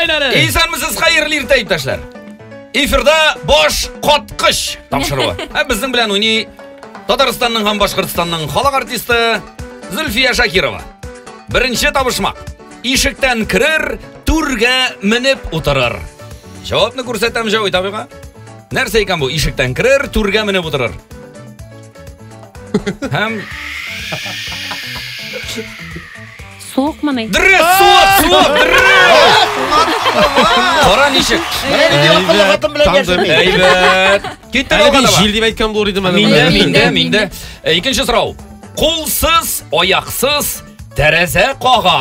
Әйләнә! Исәнмесез, хәерле иртә, иптәшләр! Эфирда баш коткыч тапшыруы. Ә безнең белән уйный Татарстанның һәм Башкортстанның халык артисты Зөлфия Шакирова. Беренче табышмак. Ишектән керер, түргә менеп утырыр. Җавапны күрсәтәм Җавит абыйга. Нәрсә икән бу? Ишектән керер, түргә менеп утырыр. Һәм Суыкмыни? Дөрес, суык, суык, дөрес! Кара ничек? Менә нинди акыллы хатын белән яшәми. Әйбәт. Киттек Әле алга мин таба. җил дип әйткән булыр идем әле. Миндә, менә. миндә, Миндә, миндә. Ә, Икенче сорау. Кулсыз, аяксыз, тәрәзә кага.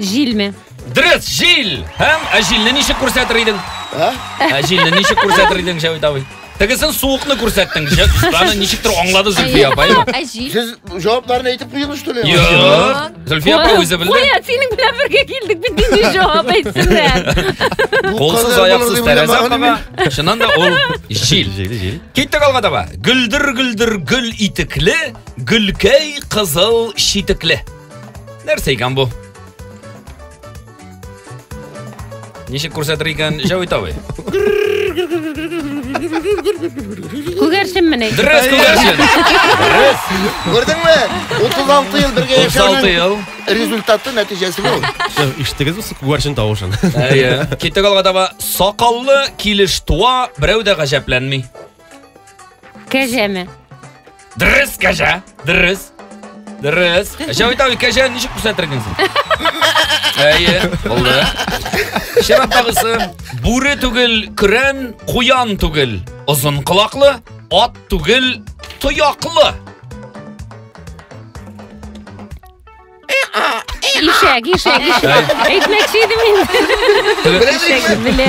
Җилме? Дөрес, җил! Һәм ә җилне ничек күрсәтер идең? Ә? Ә җилне ничек күрсәтер идең, Җәвит абый? Тегесен суыкны күрсәттең. Җә- Аны ничектер аңлады Зөлфия апа, әйме? Ә җил? Сез җавапларны әйтеп куйдыгыз что ли? Юк. Зөлфия апа үзе белде. Куя, синең белән бергә килдек бит нинди җавап әйтсеннәр. Бу Колсыз кадәр аяқсыз булыр дип тәрәзә уйламаган кага. идем. Чыннан да ул җил. Җил, җил. Киттек алга таба. Гөлдер гөлдер гөл итекле, гөлкәй кызыл читекле. Нәрсә икән бу? Ничек күрсәтер икән Җәвит абый? Күгәрчен менә. Дөрес күгәрчен. Дөрес. Күрдеңме? 36 ел бергә 36 ел. Результаты нәтиҗәсе бу. Иштегез бу күгәрчен тавышын. Әйе. Китек алга таба сакаллы килеш туа, берәү дә гаҗәпләнми. Кәҗәме? Дөрес, кәҗә. Дөрес. Дөрес. Кәҗә бит кәҗә ничек күрсәтерген син? Әйе, булды. Шәрәптагысы бүре түгел, көрән, куян түгел. Озын колаклы, ат түгел, тояклы. Ишәк, ишәк, ишәк. Әйтмәкче идем инде. Ишәк белә.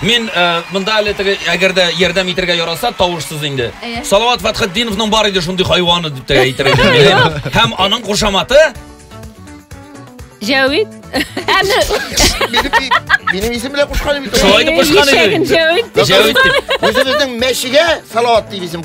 Мин э, монда әле теге, әгәр дә ярдәм итәргә яраса, тавышсыз инде. Әйе. Салават Фатхетдиновның бар иде шундый хайваны дип тә әйтергә телим. Һәм аның кушаматы Җәвит. Әле Минем, и- минем исем белән кушкан бит. ул. Шулай итеп кушкан иде. ишәген Җәвит. Җәвит дип. Үзебезнең мәчегә салават дип исем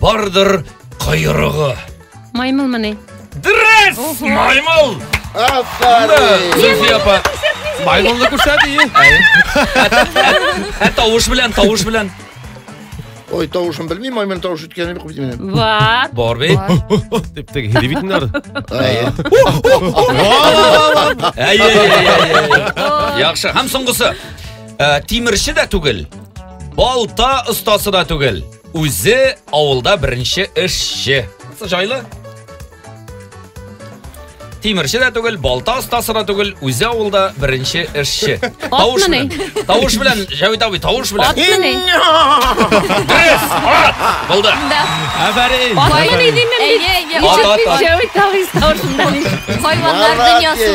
Бардыр койрыгы. Маймылмыни? Дөрес! Маймыл! Афәрин! Зөлфия апа. Маймылны күрсәт и. Ә тавыш белән, тавыш белән. Ой, тавышын белмим, маймыл тавыш үткәнен бик белмим. Бар. Бар бит. Дип теге һиди бит инде. Әйе. Әйе, әйе, әйе. Яхшы. Һәм соңгысы. Ә, Тимерче дә түгел. Балта остасы да түгел. Үзе авылда беренче эшче. Җайлы. Тимерче дә түгел, балта остасы да түгел, үзе авылда беренче эшче. Тавыш белән. Тавыш белән, Җәвит абый, тавыш белән. Атмыни? Дөрес! Ат! Булды. Афәрин. Атмыни димем бит. Ат, ат, ат. Җәвит абый тавышында. Хайваннар дөньясы.